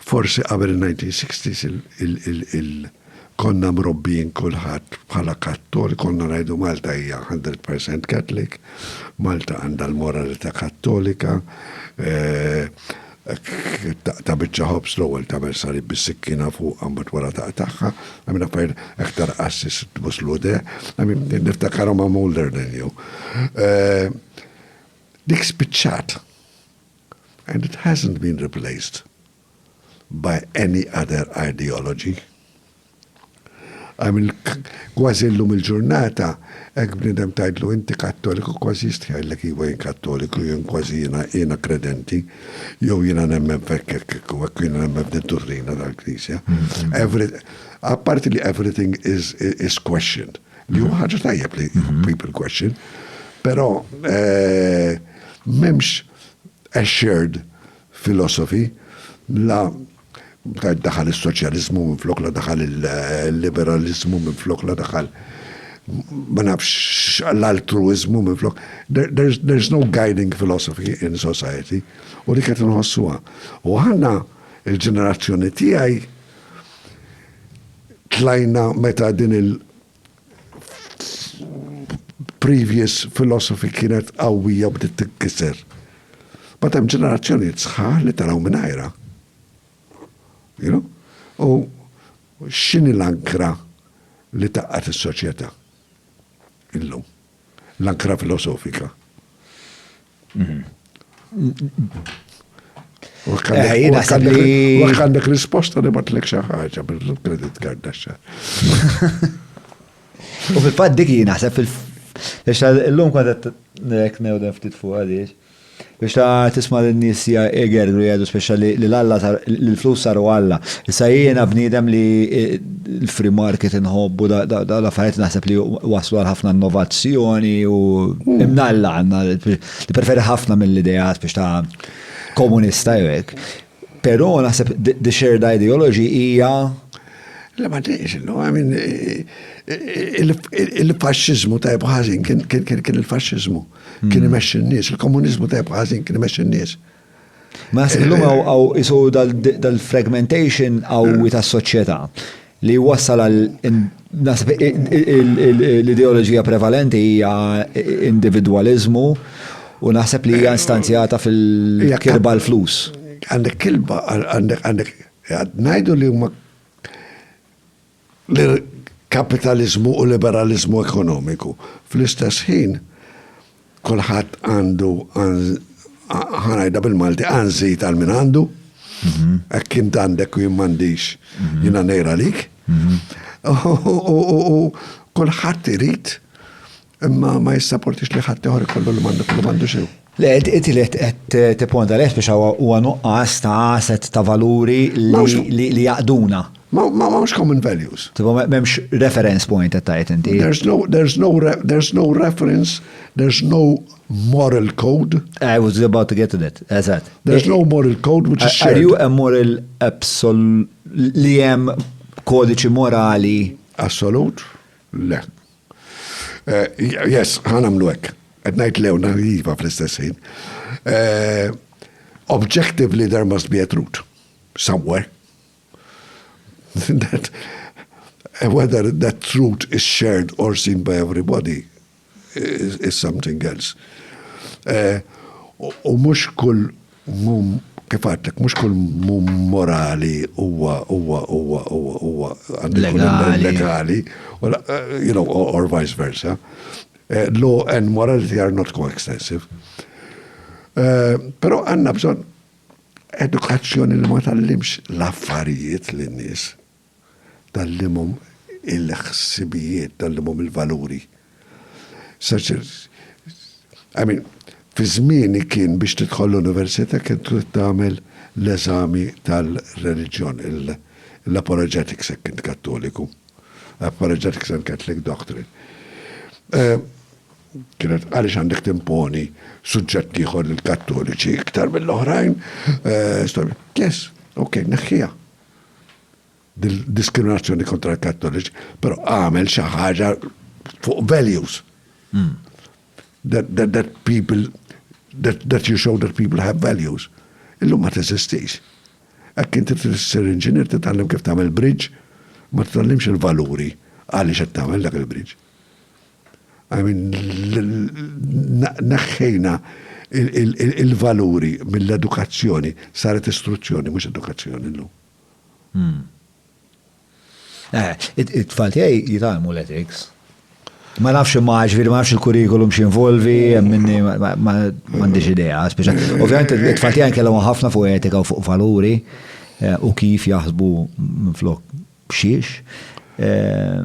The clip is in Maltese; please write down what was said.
Forsi qabel in-1960s konna mrobbijin kulħadd bħala Kattoliku, konna ngħidu Malta hija hundred percent Catholic, Malta għandha l-moralità Kattolika, taqta' biċċa ħobż l-ewwel tagħmel salib bis-sikkina fuqha mbagħad wara taqtagħha, I mean affarijiet hekk ta' rqassis tbus l-udeh, I mean niftakarhom I'm older than you. Dik spiċċat. and it hasn't been replaced by any other ideology. I mean, kważi llum il-ġurnata, hekk bniedem tgħidlu inti Kattoliku kważi jistħi jgħidlek iwa jien Kattoliku, jien kważi jiena jiena kredenti, jew jiena nemmen f'hekk hekk hekk u hekk jiena nemmen f'din duttrina tal-Knisja. Mm-hmm. Every, apparti li everything is, is questioned. Li huwa ħaġa tajjeb li mhm. people question, però eh, m'hemmx assured philosophy la daħal il-soċjalizmu minn flok la daħal il-liberalizmu minn flok la daħal ma nafx l-altruizmu minn flok. There's, there's no guiding philosophy in society u li kħet nħossuwa. U ħanna il-ġenerazzjoni tijaj tlajna meta din il previous philosophy kienet qawwija u bdiet tinkiser. Bad hemm ġenerazzjonijiet sħaħ li taraw minn għajra. You know? U x'inhi l-ankra li taqqat is-soċjetà illum? L-ankra filosofika. Għandek risposta li batlek xaħġa bil-kredit card daċċa. U fil-fat dik jina, fil-fat, l-lum kontet nek newden ftit fuq għaliex. Biex ta tisma lin nies ja igergru jgħidu speċa li l Alla sar li l flus saru Alla. Issa jiena bniedem li l free market inħobbu da da l affarijiet naħseb li wasslu għal ħafna innovazzjoni u imnalla għandna nippreferi ħafna mill ideat biex ta komunista jew hekk. Però naħseb the shared ideology hija Le ma tgħidx, no, I mean, il-faxxiżmu tajb ħażin kien il-faxxiżmu. kien hmm. imexxi n-nies, il-komuniżmu tajb ħażin kien imexxi n-nies. Ma illum għaw isu dal-fragmentation għaw ta' soċjetà li wassal għal l-ideoloġija prevalenti hija individualizmu u naħseb li hija instanzjata fil-kirba l-flus. Għandek kilba, għandek għandek, najdu li huma lil kapitaliżmu u liberaliżmu ekonomiku. Fl-istess ħin, kulħadd għandu, ħa ngħidha bil-Malti, għanżit għal min għandu, hekk int għandek u jien m'għandix, jiena ngħir għalik. U kulħadd irid Imma ma jissaportix li ħadd ieħor ikollu li m'għandu kollu m'għandu xejn. Le, inti li qed tipponta leh biex huwa nuqqas ta' asset ta' valuri li jaqduna. Ma mhux common values. Tipo m'hemmx reference point qed tgħid inti. There's no there's no there's no reference, there's no moral code. I was about to get to that. Eżatt. There's no moral code which is shared. Are you a moral absolute li hemm kodiċi morali? Assolut? Le. Eh, yes, ħan għamlu hekk. Qed ngħid lew iva fl-istess ħin. Eh, objectively there must be a truth somewhere. that eh, whether that truth is shared or seen by everybody is, is something else. U mhux kull Mhu, kif għedtlek, mhux kull mhu morali huwa huwa huwa huwa huwa legali, you know, or vice versa. Eh, law and morality are not coextensive. Eh, Pero għanna bżon edukazzjoni li ma tallimx l-affarijiet l-nis. tal liema hum il-ħsibijiet, tal liema hum il-valuri. I mean, fi żmieni kien biex tidħol l-università kien trid tagħmel l-eżami tal-reliġjon, l-apologetics jekk int Kattoliku, apologetics and Catholic doctrine. Eh, kienet għaliex għandek timponi suġġett ieħor lill-Kattoliċi iktar mill-oħrajn, eh, storja. Yes, ok, neħħija. diskriminazzjoni kontra l-Kattoliċi, pero għamel xi ħaġa fuq values. Hmm. That, that, that people, that, that you show that people have values. Illum ma teżistix. Ekk inti t-sir inġinier t-tallem kif tagħmel bridge, ma t-tallimx il-valuri għaliex qed tagħmel dak il-bridge. I mean, neħħejna il-valuri mill-edukazzjoni, saret istruzzjoni, mhux edukazzjoni llum. Hmm. Eh, it-tfal tiegħi jitalmu l-ethics. Ma nafx ma ġviri ma nafx il-kurikulum xinvolvi, minni ma għandix idea, speċa. Ovvijament, it-tfal tiegħi kellhom ħafna fuq etika u fuq valuri eh, u kif jaħsbu minn flok xiex. Eh,